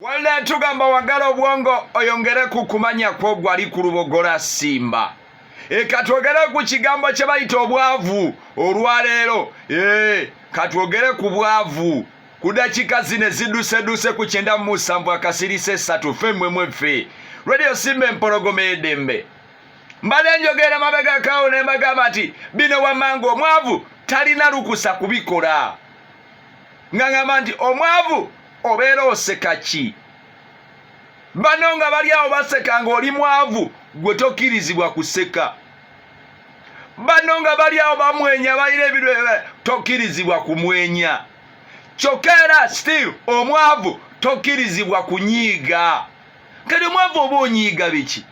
Walda yatugamba wagala obwongo oyongere ku kumanya kwo gwali ku lubogola simba e katwogere ku kigambo kye bayita obwavu olwaleero e katwogere ku bwavu ku dakika zino eziduseduuse ku kyenda mu musanvu akasirisa esatu fe mmwe mweffe radio simba empologoma edembe mbadde njogera mabegakaawo ne mbagamba nti bino wamanga omwavu talina lukusa kubikola nga ngamba nti omwavu obeera oseka ki bano nga bali awo baseka nga oli mwavu gwe tokirizibwa kuseka bano nga bali awo bamwenya balina ebintu tokirizibwa kumwenya kyokka era still omwavu tokirizibwa kunyiiga kati omwavu oba onyiiga biki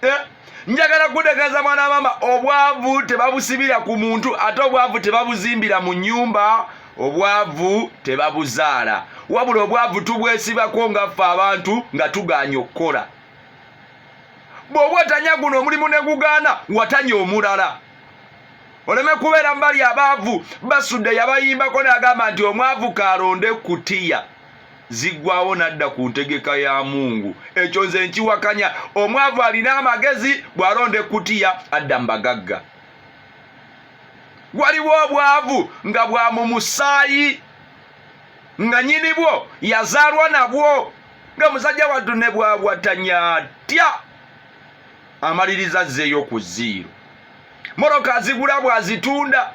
eh, njagala kutegeeza mwana mama obwavu tebabusibira ku muntu ate obwavu tebabuzimbira mu nyumba obwavu tebabuzaala wabula obwavu tubwesibako nga ffe abantu nga tuganya okukola bw'oba otanya guno omulimu ne gugaana watanya omulala oleme kubeera mbali abaavu basudde yabayimbako nagamba nti omwavu kalonde kutiya ziggwawo n'adda ku ntegeka ya mungu ekyo nze nkiwakanya omwavu alina amagezi bw'alonda ekkutiya adda mu bagagga waliwo obwavu nga bwa mu musaayi nga nyini bwo yazaalwa nabwo nga musajja wattu ne bwawatanya atya amaliriza azzeeyo ku ziiro moroka azigula bw'azitunda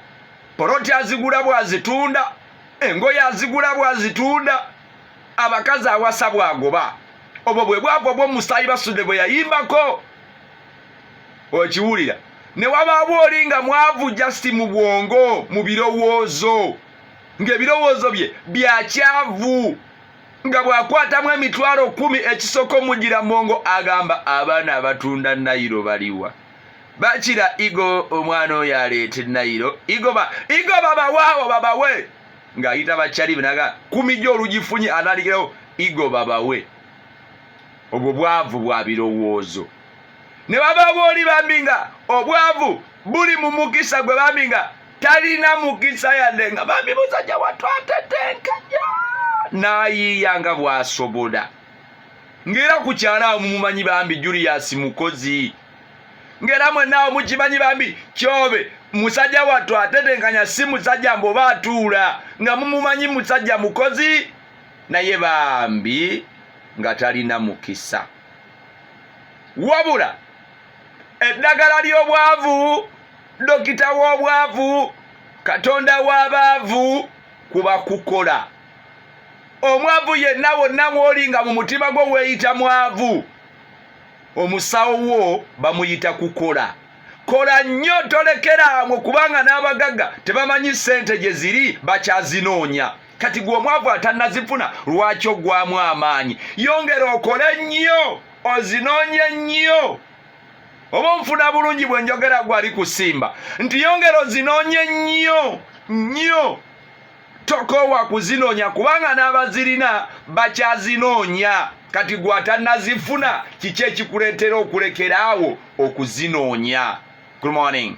poloti azigula bw'azitunda engoye azigula bwazitunda abakazi awasa bwagoba obwo bwe bwago bwomusaayi basudde bwe yayimbako okiwulira ne wabaawo oli nga mwavu just mu bwongo mu birowoozo ng'ebirowoozo bye byakyavu nga bw'akwatamu emitwalo kumi ekisoko mugira mongo agamba abaana abatunda nayiro baliwa bakira igo omwana oyo aleeta enayiro igo babawaawo babawe ng'ayita bakyalibe naga kumija olugifunye atandikirawo igo babawe obwo bwavu bwa birowoozo ne baba booli bambi nga obwavu buli mu mukisa gwe bambi nga talina mukisa yadde nga bambi musajja watwatetenkaja n'ayiiya nga bw'asobola ngera ku kyalo awo mumumanyi bambi julius mukozi ngera mwenaawo mukimanyi bambi kyobe musajja wattu atetenkanya si musajja mbu oba atuula nga mumumanyi musajja mukozi naye bambi nga talina mukisa wabula eddagala ly'obwavu dokita w'obwavu katonda w'abaavu kuba kukola omwavu yenna wonna mwoli nga mu mutima gwo weeyita mwavu omusawo wo bamuyita kukola kola nnyo tolekeraawo kubanga n'abagagga tebamanyi ssente gye ziri bakyazinoonya kati gwe omwavu atannazifuna lwaki ogwamu amaanyi yongera okole nnyo ozinoonye nnyo oba onfuna bulungi bwe njogera gwali kusimba nti yongera ozinoonye nnyo nnyo tokoowa kuzinoonya kubanga n'abazirina bakyazinoonya kati gwe atanazifuna kiki ekikuleetera okulekera awo okuzinoonya good morning